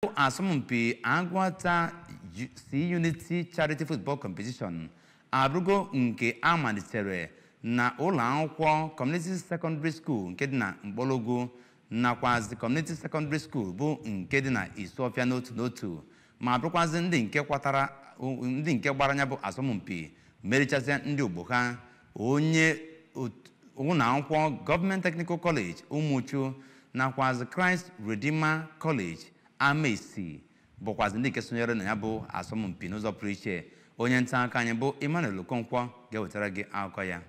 bụ asọmpi Agụata C-Unity Charity Football Competition abụrụgo nke a malitere na ụlọ akwụkwọ Community Secondary School nke dị na Mkpologwu nakwazi Community Secondary School bụ nke dị na Isuọfịa n'otu n'otu ma bụrụkwazị ndị nke kwatara ndị nke gbara na ya bụ asọmpi merichasịa ndị ogbo ha onye ot- ụlọ akwụkwọ Government Technical College Umuchu nakwazị Christ Redeemer College Amaesi bụkwazị ndị nke sonyere na ya bụ asọmpi n'ụzọ pụrụ iche onye nta akụkọ anyị bụ Emmanuel Okonkwo ga-ewetara gị akụkọ ya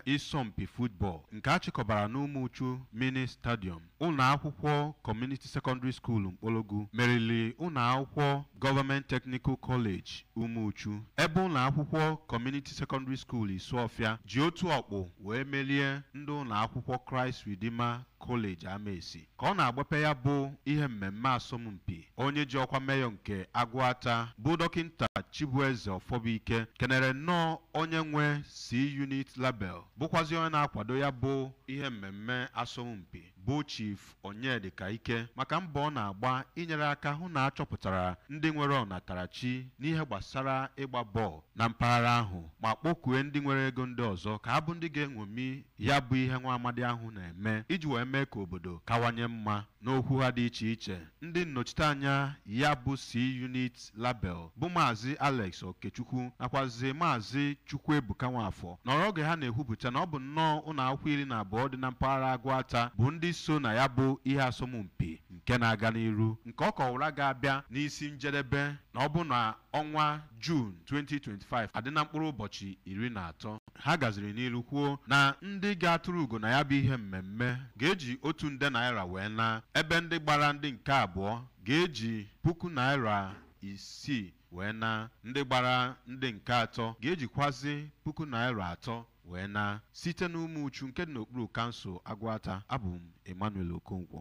ịsọmpi football nke a chịkọbara n'Umuchu Mini Stadium Ụlọakwụkwọ Community Secondary School Mkpologwu meriri ụlọakwụkwọ Government Technical College Umuchu ebe ụlọakwụkwọ Community Secondary School Isuọfịa ji otu ọkpụ wee merie ndị ụlọakwụkwọ Christ Redeemer College Amaesi ka ọ na-agbape ya bụ ihe mmemme asọmpi onye ji ọkwa meyọ nke Agụata bụ dọkịnta Chibueze Ọfọbụike kenere nnọọ onye nwe C-Unit Label bụkwazị onye na-akwado ya bụ ihe mmemme asọmpi bụ Chief Onyedika Ike maka mbọ ọ na-agba inyere aka hụ na a chọpụtara ndị nwere ọnatarachi n'ihe gbasara ịgba bọọlụ na mpaghara ahụ ma kpọkue ndị nwere ego ndị ọzọ ka ha bụ ndị ga-enwomi ya bụ ihe nwa amadi ahụ na-eme iji wee mee ka obodo kawanye mma N'okwu ha dị iche iche, ndị nnochiteanya ya bụ C-Unit Label bụ Maazị Alex Okechukwu nakwazị Maazị Chukwuebuka Nwafọ nọrọ oge ha na-ekwupụta na ọ bụ nnọọ ụlọakwụkwọ iri na abụọ dị na mpaghara Agụata bụ ndị so na ya bụ ihe asọmpi nke na-aga n'iru nke ọ kọwara ga-abịa n'isi njedebe na ọ bụ na ọnwa Juun 2025 adị na mkpụrụ ụbọchị iri na atọ. ha gaziri n'ilu kwuo na ndị ga-atụrụ ugo na ya bụ ihe mmemme ga-eji otu nde naira wee na ebe ndị gbara ndị nke abụọ ga-eji puku naira isii wee na ndị gbara ndị nke atọ ga-ejikwazi puku naira atọ wee na site n'Umuchu nke dị n'okpuru kansụl Agụata abụ m Emmanuel Okonkwo